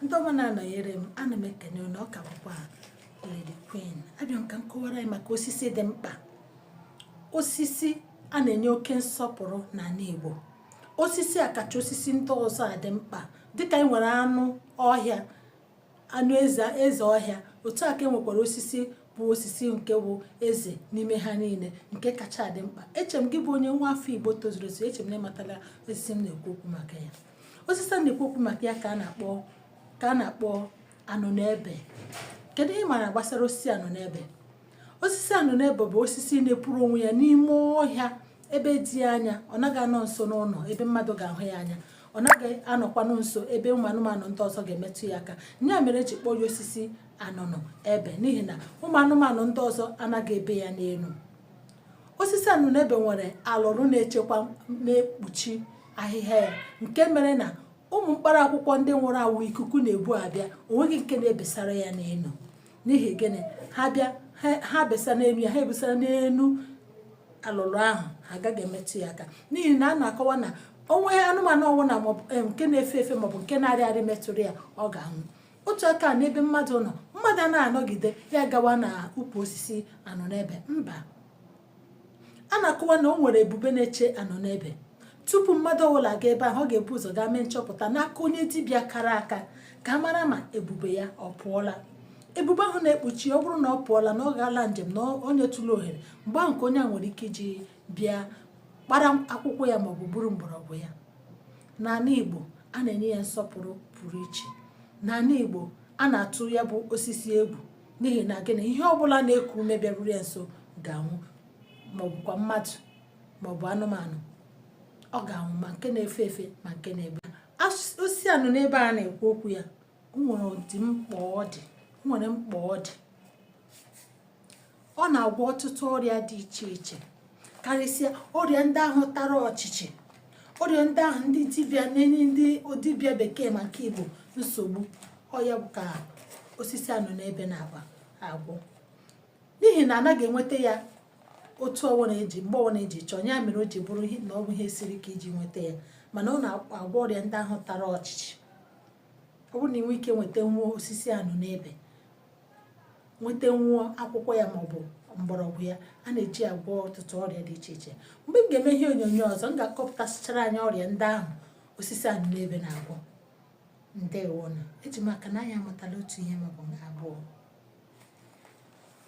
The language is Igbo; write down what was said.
ndị ọma na-anọnyere m ana m ekene unu ọ ka bụkwa Lady Queen abịa m ka m kọwara anyị maka osisi dị mkpa osisi a na-enye oke nsọpụrụ n'ala Igbo osisi a kacha osisi ndị ọzọ adị mkpa dịka anyị nwere anụ ọhịa anụ eze eze ọhịa otu a ka e nwekwara osisi bụ osisi nke bụ eze n'ime ha niile nke kacha adị mkpa eche m gị bụ onye nwa afọ igbo tozuru ezu eche m na ị matala osisi m na-ekwu okwu maka ya osisi a na-ekwu okwu maka ya ka a na-akpọ ka a na-akpọ anụnụ ebe kedu ihe ị mara gbasara osisi anụnụ ebe osisi anụnụ ebe bụ osisi na-epuru onwe ya n'ime ọhịa ebe dị anya ọ naghị anọ nso n'ụlọ ebe mmadụ ga-ahụ ya anya ọ naghị anọkwanụ nso ebe ụmụ anụmanụ ndị ọzọ ga-emetụ ya aka ya mere e ji kpọọ ya osisi anụnụ ebe n'ihi na ụmụ anụmanụ ndị ọzọ anaghị ebe ya n'elu osisi anụnụ ebe nwere alụrụ na-echekwa na-ekpuchi ahịhịa ya nke mere na ụmụ mkpara akwụkwọ ndị nwụrụ anwụ ikuku na-ebu abịa o nweghị nke na-ebesara ya n'elu n'ihi gịnị ha bịa ha besa n'elu ya ha ebesara n'elu alụlụ ahụ ha agaghị emetụ ya aka n'ihi na a na-akọwa na o nwee anụmanụ ọwụna eh, nke na-efe efe maọbụ nke na-arị arị metụrụ ya ọ ga-anwụ otu aka n'ebe mmadụ nọ mmadụ na-anọgide ya gawa n'ukwu osisi anụnụ ebe mba a na-akọwa na o nwere ebube na-eche anụnụ ebe tupu mmadụ ọbụla aga ebe ahụ ọ ga-ebu ụzọ gaa mee nchọpụta n'aka onye dibịa kara aka ka a mara ma ebube ya ọ pụọla ebube ahụ na-ekpuchi ọ bụrụ na ọ pụọla na ọ gaala njem na o nyetụla ohere mgbe ahụ nke onye a nwere ike iji bịa kpara akwụkwọ ya maọbụ gburu mgbọrọgwụ ya n'ala Igbo a na-enye ya nsọpụrụ pụrụ iche n'ala Igbo a na-atụ ya bụ osisi egwu n'ihi na gịnị ihe ọ bụla na-eku ume bịaruru ya nso ga-anwụ maọbụkwa mmadụ maọbụ anụmanụ ọ ga-anwụ ma nke na-efe efe ma nke na-egbe osisi anụnụ ebe a na-ekwu okwu ya nwere ụdị mkpa ọ dị nwere mkpa ọ dị ọ na-agwọ ọtụtụ ọrịa dị iche iche karịsịa ọrịa ndị ahụ tara ọchịchị ọrịa ndị ahụ ndị dibịa na-enye ndị dibịa bekee ma nke igbo nsogbu ọ ya bụ ka osisi anụnụ ebe na-agwọ n'ihi na anaghị enweta ya otu ọwụna e ji mgbe ọwụna e ji chọọ ya mere o ji bụrụ na ọ bụ ihe siri ike iji nweta ya mana ọ na-agwọ ọrịa ndị ahụ tara ọchịchị ọ bụrụ na ị nwee ike nwetanwuo osisi anụnụ ebe nwetanwuo akwụkwọ ya maọbụ mgbọrọgwụ ya a na-eji agwọ ọtụtụ ọrịa dị iche iche mgbe m ga-eme ihe onyonyo ọzọ m ga-akọpụtasịchara anyị ọrịa ndị ahụ osisi anụnụ ebe na-agwọ ndewo nụ eji m aka na anyị amụtala otu ihe maọbụ abụọ